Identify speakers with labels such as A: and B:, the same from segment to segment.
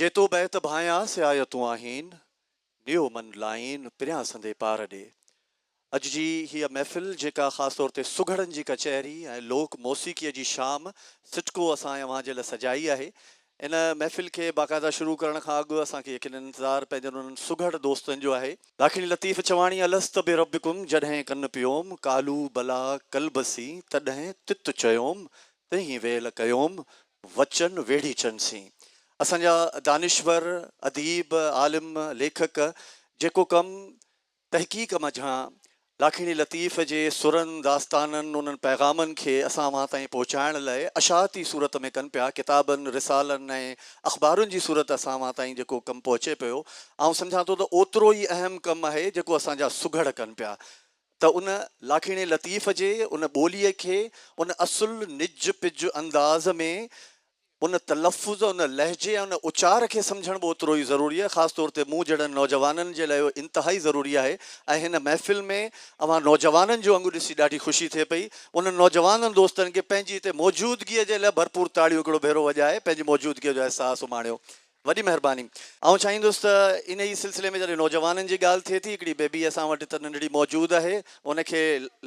A: جيتو بيت ڀانئيا سي آيا تون آهين، نيو من لائين پريان سندي پار ڏي. اڄ جي هيء محفل جيڪا خاص طور تي سگهڙن جي ڪچهري ۽ لوڪ موسيقيء جي شام سٽڪو اسان اوهان جي لاء سجائي آهي، ان محفل کي باقاعده شروع ڪرڻ کان اڳ اسان کي يقيناً انتظار پنهنجن انهن سگهڙ دوستن جو آهي. ڏاکڻي لطيف چواڻي الست بربڪم جڏهن ڪن پيوم قالو بلا قلبسي تڏهن تت چيوم تنهين ويل ڪيوم وچن ويڙهي چن سين. اسان جا دانشور، اديب، عالم، ليکڪ جيڪو ڪم تحقيق منجهان لاکيڻي لطيف جي سرن، داستانن، انهن پيغامن کي اسان اوهان تائين پهچائڻ لاء اشاعتي صورت ۾ ڪن پيا، ڪتابن، رسالن ۽ اخبارن جي صورت اسان اوهان تائين جيڪو ڪم پهچي پيو، آئون سمجهان ٿو ته اوترو ئي اهم ڪم آهي جيڪو اسان جا سگهڙ ڪن پيا. ته ان لاکيڻي لطيف جي ان ٻوليء کي ان اصل نج پج انداز ۾ ان تلفظ، ان لهجي ۽ ان اچار کي سمجهڻ به اوترو ئي ضروري آهي. خاص طور تي مون جهڙن نوجوانن جي لاء اهو انتهائي ضروري آهي ۽ هن محفل ۾ اوهان نوجوانن جون انگون ڏسي ڏاڍي خوشي ٿئي پئي. انهن نوجوانن دوستن کي پنهنجي هتي موجودگيء جي لاء ڀرپور تاڙيون هڪڙو ڀيرو وڄائي پنهنجي موجودگيء جو احساس اماڻيو. وڏي مهرباني. آئون چاهيندس ته انهيء سلسلي ۾ جڏهن نوجوانن جي ڳالهه ٿئي ٿي، هڪڙي بيبي اسان وٽ هت ننڍڙي موجود آهي، ان کي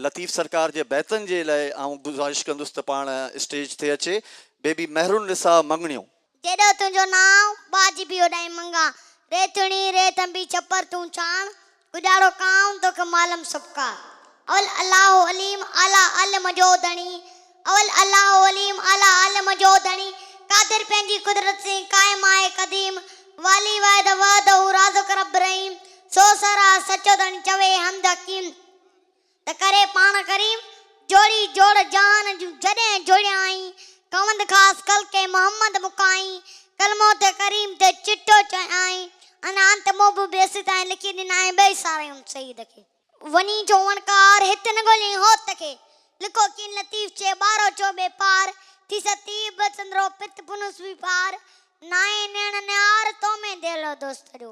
A: لطيف سرڪار جي بيتن جي لاء آئون گذارش ڪندس ته پاڻ اسٽيج تي اچي. بيبي مهرالنساء مڱڻيون. جيڏو تنهنجو
B: نانء، ٻاجهه به اوڏانهين منڱان، ريتڻي، ريت انبي چپر تون چاڻ، ڳجهاڙو ڪانء توکي مالم سبقا. اول الله عليم اعليٰ علم جو ڌڻي اول الله عليم اعليٰ علم جو ڌڻي قادر پنهنجي قدرت سين قائم آهي قديم والي واحد وحده رازق رب رحيم سو سر آ سچو ڌڻي چوي حمد حڪيم. ته ڪري پاڻ ڪريم جوڙي جوڙ جهان جون جڏهن جوڙيائين ڪوند خاص خلقي محمد مڪائين ڪلمو ته ڪريم تي چٽو چيائين ان انت مون به بيسي تائين لکي ڏنائين ٻئي ساريون سيد کي وڃي چوڻ ڪار هت نه ڳوليائين هوت کي لکو ڪين لطيف چي ٻارو چو ٻي پار ٿي ستي به سندرو پت پنهون سوئي پار نائين نيڻ نهار تو ۾ ديلو دوست جو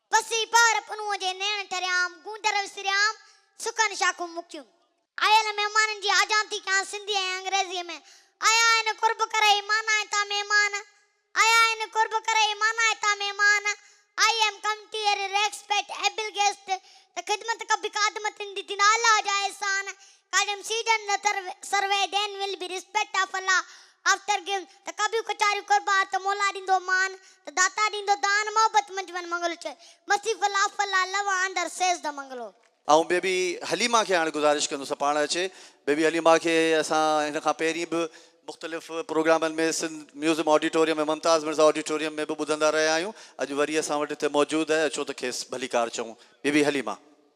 B: پسي پار پنهونء جي نيڻ ٽريام، گونجر وسريام، سڪن شاخون مکيون. آيل مهمانن جي آجانتي ڪيان سنڌي ۽ انگريزيء ۾، آيا آهن قرب ڪري، معنيٰ هتان مهمان، آيا آهن قرب ڪري، معنيٰ هتان مهمان، آئي ايم ڪم ٽي ري ريڪسپيٽ ايبل گيسٽ، ته خدمت ڪبي خادمت ان دي دين الله جا احسان، ڪالم سيڊن نه تر serve then will be respect of الله آفٽر گيون ته ڪبيون ڪچاريون قربار ته مولا ڏيندو مان ته داتا ڏيندو دان محبت منجھ من منگلو چئي مرسيفل آف الله لو آندر سيز ته منگلو. آئون بيبي
A: حليمه کي هاڻي گذارش ڪندس ته پاڻ اچي. بيبي حليمه کي اسان هن کان پهرين به مختلف پروگرامن ۾ Sindh museum auditorium ۽ Mumtaz Mirza auditorium ۾ به ٻڌندا رهيا آهيون. اڄ وري اسان وٽ هتي موجود آهي اچو ته کيس ڀليڪار چئون. بيبي حليمه.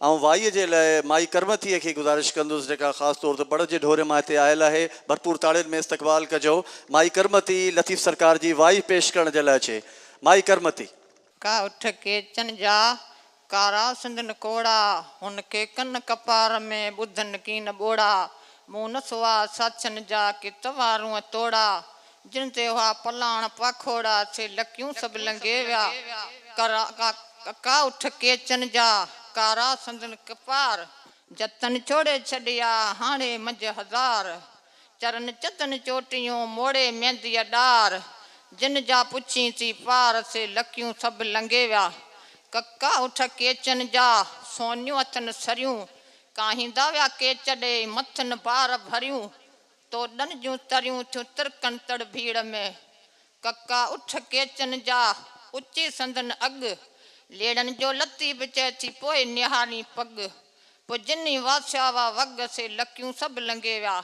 B: آئون وائيء جي
A: لاء مائي ڪرمتيء کي گذارش ڪندس، جيڪا خاص طور تي بڙ جي ڍوري مان هتي آيل آهي. ڀرپور تاڙين ۾ استقبال ڪجو. مائي ڪرمتي، لطيف سرڪار جي وائي پيش ڪرڻ جي لاء اچي. مائي ڪرمتي. ڪا اٺ
C: ڪيچن جا، ڪارا سندن ڪوڙا، هن کي ڪن ڪپار ۾، ٻڌن ڪين ٻوڙا، مون نه سوا ساڇن جا، ڪي توارون توڙا، جن تي اها پلاڻ پاکوڙا ٿي لڪيون سڀ لنگهي ويا. ڪڪا اٺ ڪيچن جا ڪارا سندن ڪپار جتن چوڙي ڇڏيا هاڻي منجهه هزار چرن چتن چوٽيون موڙي مينديء ڏار جن جا پڇين ٿي پار سي لڪيون سڀ لنگهي ويا. ڪڪا اٺ ڪيچن جا سونيون اٿن سريون ڪاهيندا ويا ڪيچ ڏئي مٿن بار ڀريون توڏن جون تريون ٿيون ترڪن تڙ ڀيڙ ۾، ڪکا اٺ ڪيچن جا، اچي سندن اڳ، ليڙن جو لطيف چئي ٿي پوء نهارين پڳ، پوء جني واسيا وا وڳ سي لڪيون سڀ لنگهي ويا،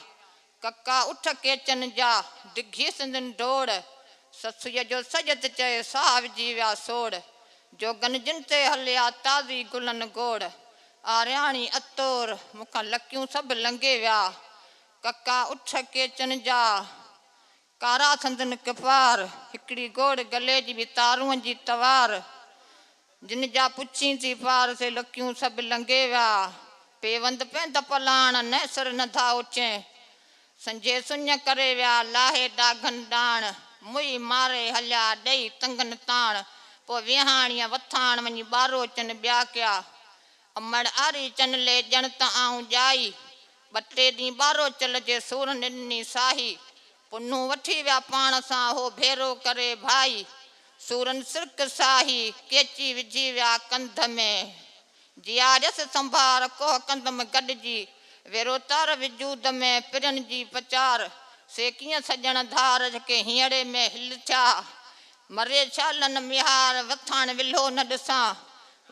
C: ڪکا اٺ ڪيچن جا، ڊگهي سندن ڊوڙ، سسئيء جو سيد چئي ساهه وجهي ويا سوڙ، جوڳن جن تي هليا تازي گلن گوڙ، آرياڻي عطور مون کان لڪيون سڀ لنگهي ويا. ڪکا اٺ ڪيچن جا، ڪارا سندن ڪپار. هڪڙي گوڙ گلي جي به تارون جي توار. جن جا پڇين ٿي پار، سي لڪيون سڀ لنگهي ويا. پيوند پيند پلاڻ، نه سر نه ڌاء اچين. سنجهي سڃ ڪري ويا، لاهي ڏاگهن ڏاڻ. موهي ماري هليا، ڏئي تنگن تاڻ. پوء ويهاڻيء وٿاڻ، وڃي ٻارو اچن ٻيا ڪيا. امڙ آري چن لي ڄڻ ته آئون ڄائي. ٻه ٽي ڏينهن ٻارو چل جي سور نڏني ساهي. پنهون وٺي ويا پاڻ سان هو ڀيرو ڪري ڀائي. سورن سرڪ ساهي ڪيچي وجهي ويا ڪنڌ ۾. جياريس سنڀار ڪوهه ڪندم گڏجي. ويروتار وجود ۾ پرين جي پچار. سي ڪيئن سڄڻ ڌار جهڪي هينئڙي ۾ هل ٿيا. مري ڇالن ميهار وٿاڻ ولهو نه ڏسان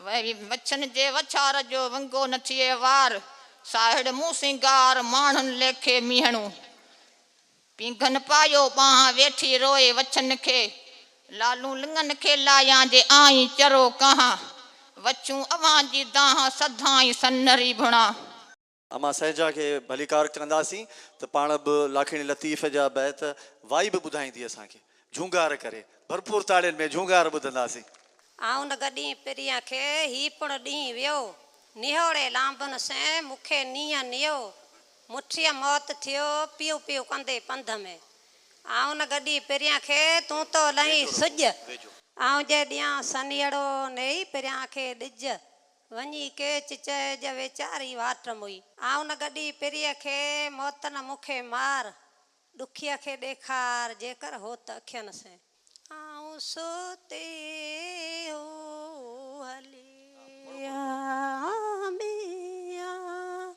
C: وري مڇن جي وڇار جو ونگو نه ٿئي وار ساهڙ مون سينگار ماڻهن ليکي ميهڻو پينگهن پايو ٻانهن ويٺي روئي وڇن کي لالون لڱن کي لايان جي آئين چرو ڪهان وڇون اوهان جي دانهن سڌائين سنري ڀڻان. امان
A: سهجا کي ڀليڪار ڪنداسين ته پاڻ به لاکيڻي لطيف جا بيت وائي به ٻڌائيندي اسان کي. جهونگار ڪري. ڀرپور تاڙين ۾ جهونگار ٻڌنداسين. آئون نگهه
D: ڏينهن پرينء کي، هي پڻ ڏينهن ويو. نهوڙي لانڀن سين، مون کي نينهن نيو. مٺيء موت ٿيو، پيو پيو ڪندي پنڌ ۾. آئون نگهه ڏينهن پرينء کي، تون ٿو لهين سڄ. آئون جي ڏيان سنيهڙو، نيئي پرينء کي ڏج. وڃي ڪيچ چهه جي ويچاري واٽ موئي. آئون نه گڏي پريء کي، موت نه مون کي مار. ڏکيء کي ڏيکار، جيڪر هو ته اکين سين. آئون ستي هو هلي آيان ٻيان.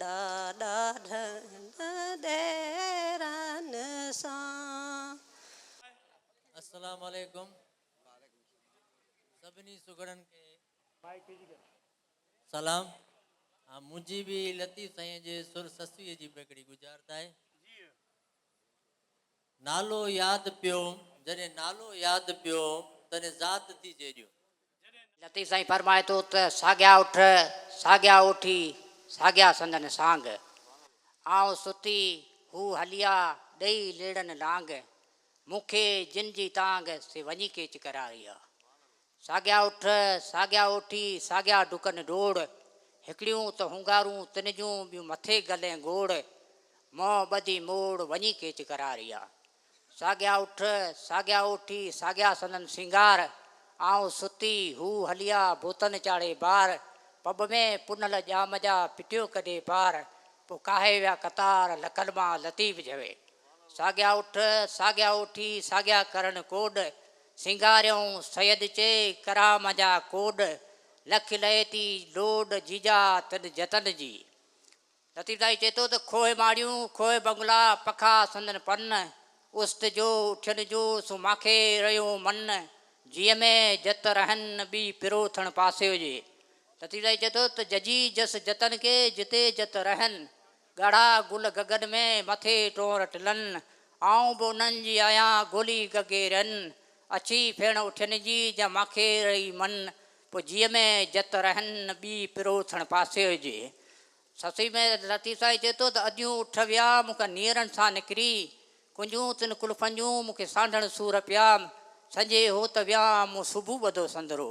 D: ڏاڏا ڍنڍ ديرن سان.
E: السلام عليڪم سڀني سگهڙن کي سلام منهنجي به لطيف سائين جي سر سسئي جي به هڪڙي ڳجهارت آهي. نالو ياد پيو، جڏهن نالو ياد پيو، تڏهن ذات ٿي جيڏيو. لطيف
F: سائين فرمائي ٿو ته ساڳيا اٺ، ساڳيا اوٺي، ساڳيا سندن سانگ. آئون ستي، هو هليا، ڏئي ليڙن لانگ. مون کي جن جي تانگ، سي وڃي ڪيچ ڪراري آ. ساڳيا اٺ، ساڳيا اوٺي، ساڳيا ڊڪن ڊوڙ، هڪڙيون ته هونگارون تن جون، ٻيون مٿي گل ۽ گوڙ، منهن ٻڌي موڙ، وڃي ڪيچ ڪراريا. ساڳيا اٺ، ساڳيا اوٺي، ساڳيا سندن سينگار، آئون ستي، هو هليا، بوتن چاڙهي بار، پٻ ۾ پنهل ڄام جا، پٽيو ڪڍي پار، پوء ڪاهي ويا قطار، لڪن مان لطيف جهوي. ساڳيا اٺ، ساڳيا اوٺي، ساڳيا ڪرڻ ڪوڏ، سينگاريون سيد چي ڪرام جا ڪوڏ، لک لئي تي لوڏ جيجا تن جتن جي. لطيف دائي چئي ٿو ته کوهه ماڙيون، کوهه بنگلا، پکا سندن پن، است جو اٺين جو سو ماکي رهيو من، جيء ۾ جت رهن ٻي پرو ٿڻ پاسيو جي. لطيف دائي چئي ٿو ته ججي جس جتن ڪي، جتي جت رهن، ڳاڙها گل گگن ۾، مٿي ٽونر ٽلن. آئون به انهن جي آهيان، گولي گگي رن. اڇي ڦيڻ اٺين جي، جا ماکي رهي من. پوء جيء ۾ جت رهن، ٻي پروٿڻ پاسي هجي. سسئي ۾ لطيف سائين چئي ٿو ته اديون اٺ ويا، مون کان نيرن سان نڪري. ڪنجون تن ڪلفن جون، مون کي سانڍڻ سور پيا. سنجهي هو ته ويان، مون صبح ٻڌو سندرو.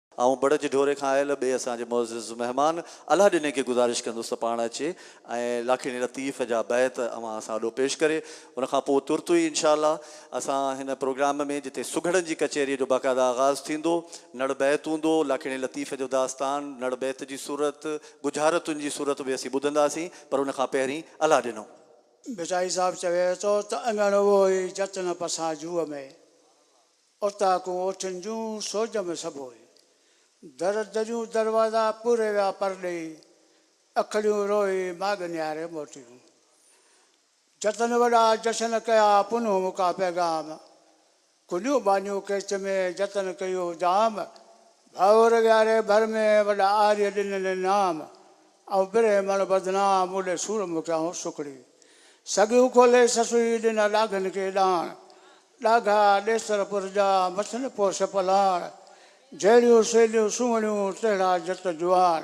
A: آئون بڙج ڍوري کان آيل ٻئي اسان جي معزز مهمان الهه ڏني کي گذارش ڪندس ته پاڻ اچي ۽ لاکيڻي لطيف جا بيت اوهان اسان آڏو پيش ڪري. ان کان پوء ترت ئي انشاء الله اسان هن پروگرام ۾ جتي سگهڙن جي ڪچهريء جو باقاعده آغاز ٿيندو، نڙ بيت هوندو، لاکيڻي لطيف جو داستان نڙ بيت جي صورت، ڳجهارتن جي صورت ۾ اسين ٻڌنداسين، پر ان کان پهرين الهه ڏنو. ڀٽائي صاحب
G: چوي ٿو ته اڱڻ اهو ئي جت نه پسان جوء ۾. اوطاقون اوٺين جون سوڄ ۾ سڀوئي. در دريون دروازا پوري ويا پر ڏيئي. اکڙيون روئي ماڳ نهاري موٽيون. جتن وڏا جشن ڪيا پنهون مڪا پيغام. ڪنيون ٻانهيون ڪيچ ۾ جتن ڪيو دام. ڀائور وياري ڀر ۾ وڏا آريء ڏنن انعام. آئون برهمڻ بدنام مون ڏي سورمو ڪيائون سڪڙي. سڳيون کولي سسئي ڏنا ڏاگهن کي ڏاڻ. ڏاگها ڏيسر پر جا، مٿن پوش پلاڻ. جهڙيون سيليون سهڻيون، تهڙا جت جوان.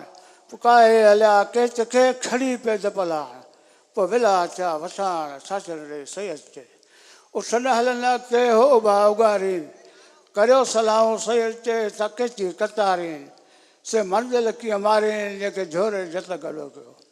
G: پڪاهي هليا ڪيچ کي، کڻي پيد پلاڻ. پوء ويلا ٿيا وساڻ، ساجن ڙي سيد چي. اٺ نه هلن اڳتي، هو اڀا اڳارين. ڪريو صلاحون سيد چي، ٿا ڪيچي ڪتارين. سي منزل ڪيئن مارين، جنهن کي جهوري جت گڏو ڪيو.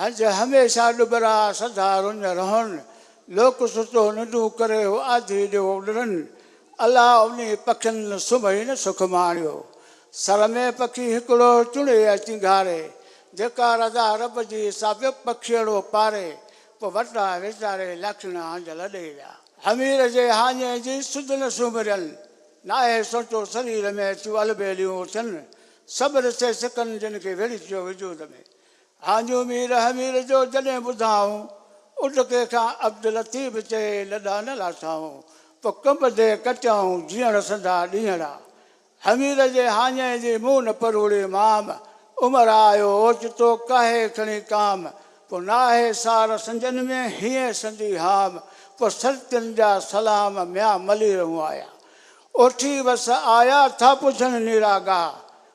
G: هنج هميشه ڏٻرا سدا رڃ رهن، لوڪ سستو ننڊون ڪري هو آڌي ڏيئو ڏرن، الا انهي پکين سمهي نه سک ماڻيو، سر ۾ پکي هڪڙو چڻي ۽ چنگهاري، جيڪا رضا رب جي سابق پکيئڙو پاري، پوء وٽان ويچاري لاکيڻا هنج لڏي ويا. همير جي هاڃي جي سڌ نه سومرين، ناهي سوچو سرير ۾ ٿيون البيليون اٿن، سڀ رسي سڪن جن کي ويڙهجيو وجود ۾، آنجو مير همير جو جڏهن ٻڌائون، اڏڪي کان عبداللطيف چئي لڏا نه لاٿائون، پوء ڪنبدي ڪٽيائون جيئڻ سنڌا ڏينهڙا. همير جي هاڃي جي مون پروڙي مام، عمر آيو اوچتو ڪاهي کڻي ڪام، پوء ناهي سار سنجن ۾ هينئن سندي هام، پوء سلطين جا سلام ميان مليرهون آيا. اوٺي وس آيا ٿا پڇن نيرا ڳاهه،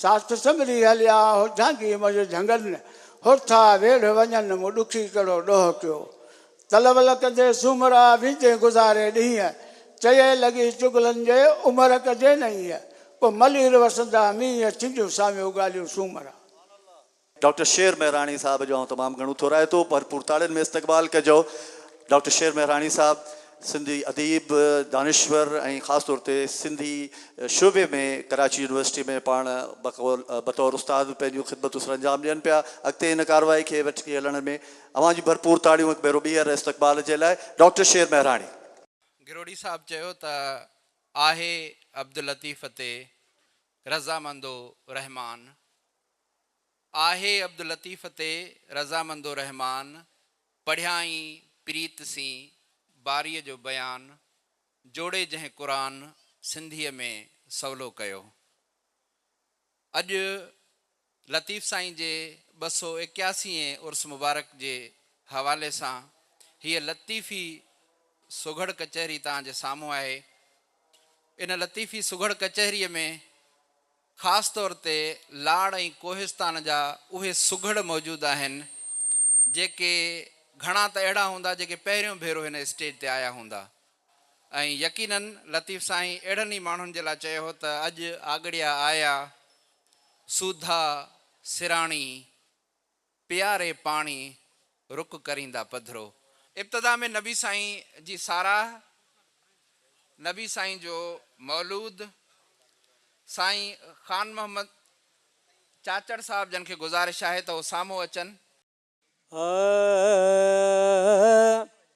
G: ساٿ سنڀري هليا هو جهانگي منجهه جهنگن هر ٿا ويڙهه وڃن مون ڏکي ڪهڙو ڏوهه ڪيو تلول ڪندي سومرا ويندين گذاري ڏينهن چيئي لڳي چغلن جي عمر ڪجي نه ايئن پوء ملير وسندا مينهن ٿينديون ساميون ڳالهيون سومرا ڊاڪٽر
A: شير مهراڻي صاحب جو آئون تمام گهڻو ٿورائتو ڀرپور تاڙين ۾ استقبال ڪجو ڊاڪٽر شير مهراڻي صاحب سنڌي اديب دانشور ۽ خاص طور تي سنڌي شعبي ۾ ڪراچي يونيورسٽي ۾ پاڻ بطور استاد به پنهنجون خدمتون سرانجام ڏين پيا اڳتي هن ڪارروائي کي وٺي هلڻ ۾ اوهان جون ڀرپور تاڙيون هڪ ڀيرو ٻيهر استقبال جي لاء ڊاڪٽر شير مهراڻي. گروڙي
H: صاحب چيو ته آهي عبداللطيف تي رضامندو رحمان. آهي عبداللطيف تي رضامند الرحمان پڙهيائين پريت سين باريء جو بيان جوڙي جنهن قرآن سنڌيء ۾ سولو ڪيو اڄ لطيف سائين جي ٻه سؤ ايڪياسي اين عرس مبارڪ جي حوالي سان هيء لطيفي سگهڙ ڪچهري توهان جي سامهون آهي ان لطيفي سگهڙ ڪچهريء ۾ خاص طور تي لاڙ ۽ ڪوهستان جا اهي سگهڙ موجود آهن جيڪي گهڻا ته اهڙا هوندا جيڪي پهريون ڀيرو هن اسٽيج تي آيا هوندا ۽ يقيناً لطيف سائين اهڙن ئي ماڻهن جي لاء چيو هو ته اڄ آڳڙيا آيا سوڌا سراڻي پياري پاڻي رڪ ڪريندا پڌرو. ابتدا ۾ نبي سائين جي ساراهه، نبي سائين جو مولود، سائين خان محمد چاچڙ صاحب جن کي گذارش آهي ته هو سامهون اچن. آء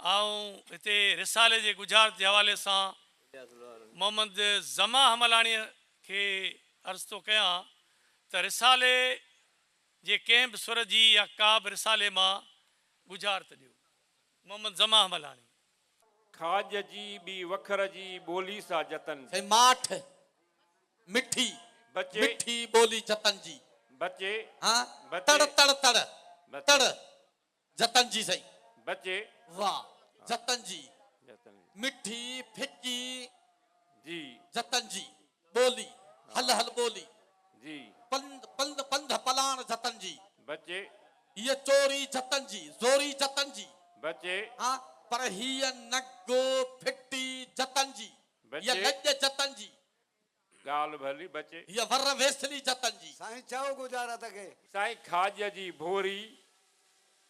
I: آئون هتي رسالي جي ڳجهارت جي حوالي سان محمد ظما حملاڻيء کي عرض ٿو ڪيان ته رسالي جي ڪنهن به سر جي يا ڪابه رسالي مان ڳجهارت ڏيو. محمد ظما حملاڻي. کاڄ
J: جي ٻي وکر جي ٻولي سا جتن جي. ماٺ
E: مٺي بچي.
J: مٺي ٻولي
E: جتن جي. بچي. ها.
J: بچي.
E: تڙ تڙ
J: تڙ.
E: بچي. تڙ. جتن جي سائين. بچي.
J: واھ
E: جتن جي جتن جي.
J: مٺي
E: ڦڪي جي.
J: جتن جي
E: ٻولي. هل هل ٻولي. جي.
J: پنڌ پنڌ
E: پنڌ پلاڻ جتن جي. بچي.
J: هيء چوري
E: جتن جي. زوري جتن جي. بچي. ها
J: پر
E: هيء نگو ڦٽي جتن جي. هيء بچي. لڄ جتن جي. ڳالهه
J: ڀلي بچي. هيء ور ويسلي
E: جتن جي. سائين چئو ڳجارت
K: کي. سائين کاڄ
J: جي ڀوري،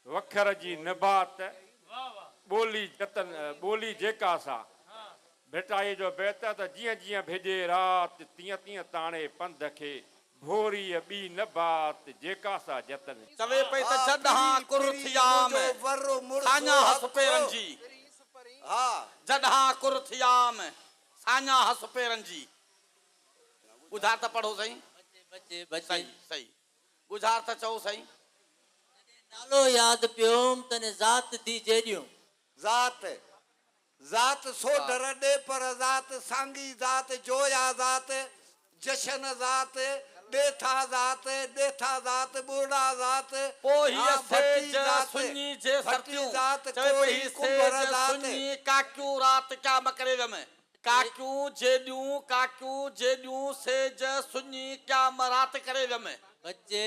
J: وکر جي نبات، ٻولي جتن ٻولي جيڪا سا. ڀٽائيء جو بيت آهي ته جيئن جيئن ڀڄي رات، تيئن تيئن تاڻي پنڌ کي، ڀوريء ٻي نبات، جيڪا سا جتن جي. چوي پئي ته جا
E: ڏهان ڪر ٿيا ۾، کاڃاهس پيرن جي.
K: جا ڏهان
E: ڪر ٿيا ۾، ساڃاهه هس پيرن جي. ڳجهار ته پڙهو سائين. بچي بچي بچي. صحيح
C: صحيح
E: ڳجهار ته چئو سائين. جڏهن
C: نالو ياد پيوم تڏهن ذات ٿي جيڏيون. ذات
K: ذات سوڍ رڏي پر ذات سانگي ذات جويا ذات جشن ذات، ڏيٿا ذات، ڏيٿا ذات، ٻرڙا ذات، ڪوهيء ها ڀٽي
E: سيج ذات، سڃي جي ڀٽي سرتيون، ذات، چوي پئي ڪوهي ڪنڀر سيج ذات. سڃي ڪاڪيون رات ڪيا مڪري ويم، ڪاڪيون جيڏيون، ڪاڪيون جيڏيون، سيج سڃي ڪيا م رات ڪري ويم. بچي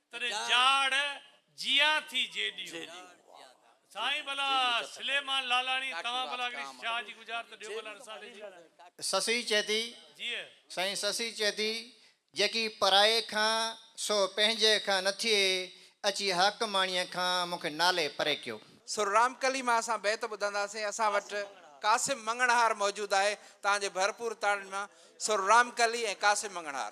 I: تڏهن جاڙ جيا ٿي جي
L: ڏيون. سائين
I: ڀلا سليمان
L: لالاڻي توهان ڀلا هڪڙي شاهه جي گجار ته ڏيو ڀلا رسالي جي. سسئي چئي ٿي سائين سسئي چئي ٿي جيڪي پرائي کان سو پنهنجي کان نه ٿئي اچي حاڪماڻيء کان مون کي نالي پري ڪيو. سر رامڪلي مان
H: اسان بيت ٻڌنداسين اسان وٽ قاسم مڱڻهار موجود آهي تهان جي ڀرپور تاڙين مان سر رامڪلي ۽ قاسم مڱڻهار.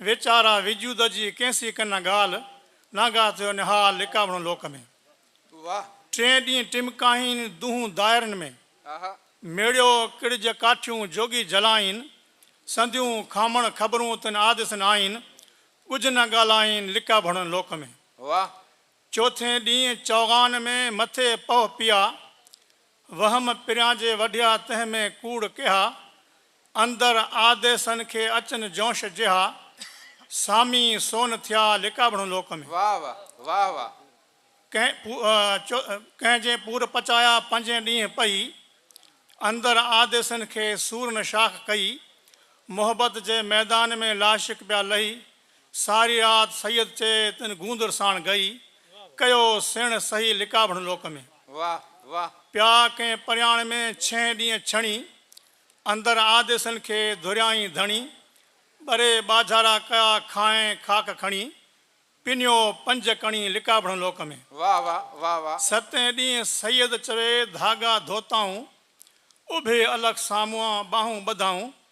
M: ويچارا وجود جي ڪنهن سي ڪن ڳالهه، نانگا ٿيو نهال لڪاوڻو لوڪ ۾.
N: ٽئين ڏينهن
M: ٽمڪائين دونهون دائرن ۾، ميڙيو ڪڙج ڪاٺيون جوڳي جلائين، سنديون کامڻ خبرون تن آديسن آئين، ڳجهه نه ڳالهائين لڪاڀڻن لوڪ ۾.
N: چوٿين
M: ڏينهن چوغان ۾ مٿي پهه پيا، وهم پريانجي وڍيا تنهن ۾ ڪوڙ ڪيها، اندر آديسن کي اچن جونش جيها، سامي سون ٿيا لڪابڻو لوڪ ۾. واھ واھ واھ
N: واھ.
M: ڪنهن جي پور پچايا پنجين ڏينهن پئي، اندر آديسن کي سورن شاخ ڪئي، محبت جي ميدان ۾ لاشڪ پيا لهي، ساري رات سيد چئي تن گوندر ساڻ گئي ڪيو سيڻ سهي لڪابڻ لوڪ ۾. واه واه.
N: پيا ڪنهن
M: پرياڻ ۾ ڇهين ڏينهن ڇڻي اندر آديسن کي ڌريائين ڌڻي ٻري ٻاجهارا ڪيا کانئن خاڪ کڻي پنيو پنج ڪڻي لڪابڻ لوڪ ۾. واه واه واه واه.
N: ستين ڏينهن
M: سيد چوي ڌاڳا ڌوتائون اڀي الخ سامهون ٻانهون ٻڌائون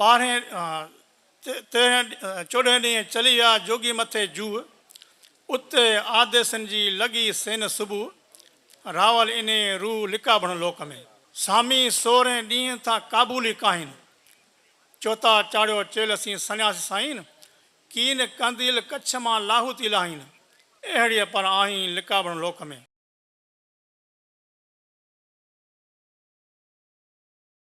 M: ٻارهين تيرهين چوڏهين ڏينهن چلي ويا جوڳي مٿي جوء. اتي آديسن جي لڳي سين صبح. راول اني روء لڪابڻ لوڪ ۾. سامي سورهين ڏينهن ٿا ڪابولي ڪاهين. چوتا چاڙهيو چيل سين سنياسي سائين. ڪين قنديل ڪڇ مان لاهوتي لاهين. اهڙيء پر آهين لڪابڻ لوڪ ۾.